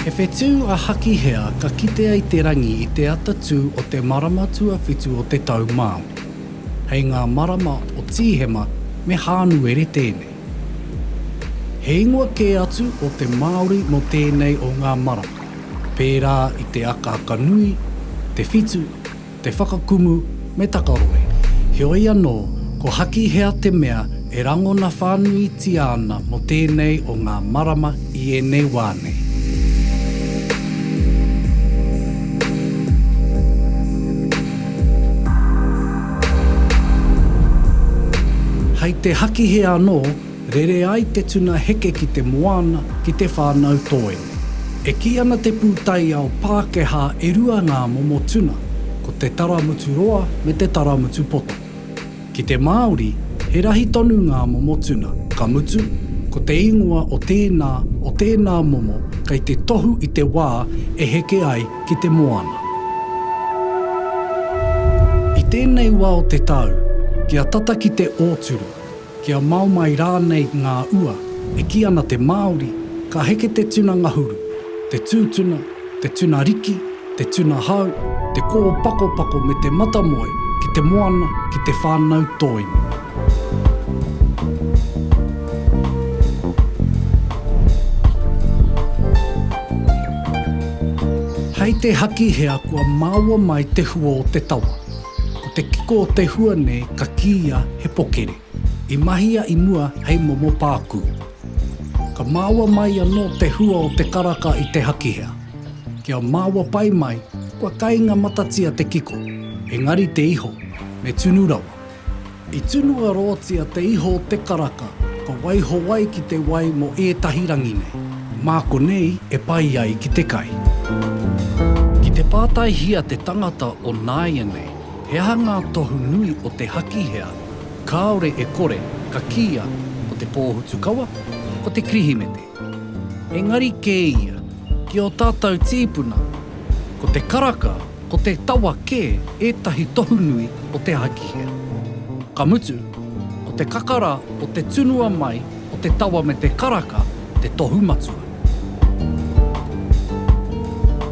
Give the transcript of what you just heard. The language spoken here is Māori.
He whetū a Hakihea ka kitea i te rangi i te ata tū o te marama tuawhitu o te tau Māori. Hei ngā marama o Tīhema me Hānuere tēnei. He ingoa kē atu o te Māori mō tēnei o ngā marama, pērā i te akaaka nui, te whitu, te whakakumu me takaroe. Heoi anō, ko Hakihea te mea e rangona whānuitia ana mō tēnei o ngā marama i ēnei wā nei. Hei te hakihe anō, rere ai te tuna heke ki te moana, ki te whānau tōene. E kī ana te pūtaiao Pākehā e rua ngā momo tuna, ko te taramutu roa me te taramutu poto. Ki te Māori, he rahi tonu ngā momo tuna, ka mutu, ko te ingoa o tēnā, o tēnā momo kei te tohu i te wā e heke ai ki te moana. I tēnei wā o te tau, kia tata ki te ōturu. Kia mao mai rānei ngā ua, e kī ana te Māori, ka heke te tuna ngahuru, te tūtuna, te tuna riki, te tuna hau, te kō pakopako me te matamoe ki te moana ki te whānau tōina. Hei te haki hea kua maua mai te hua o te tawa. Ko te kiko o te hua nei ka kīia he pokere. I mahia i mua hei momo pākū. Ka māua mai anō te hua o te karaka i te hakihea. Kia māua pai mai, kua kainga matatia te kiko, engari te iho, me tunu rawa. I tunua rootia te iho o te karaka, ka waiho wai ki te wai mo eetahi rangi nei. Ma konei e pai ai ki te kai. Ki te pātaihia te tangata o nāianei, he aha ngā tohu nui o te hakihea kāore e kore ka kīia ko te pōhutukawa, ko te Kirihimete. Engari kē ia, ki ō tātou tīpuna, ko te karaka, ko te tawa kē ētahi tohu nui o te ahakihea. Ka mutu, ko te kakara o te tunua mai o te tawa me te karaka te tohu matua.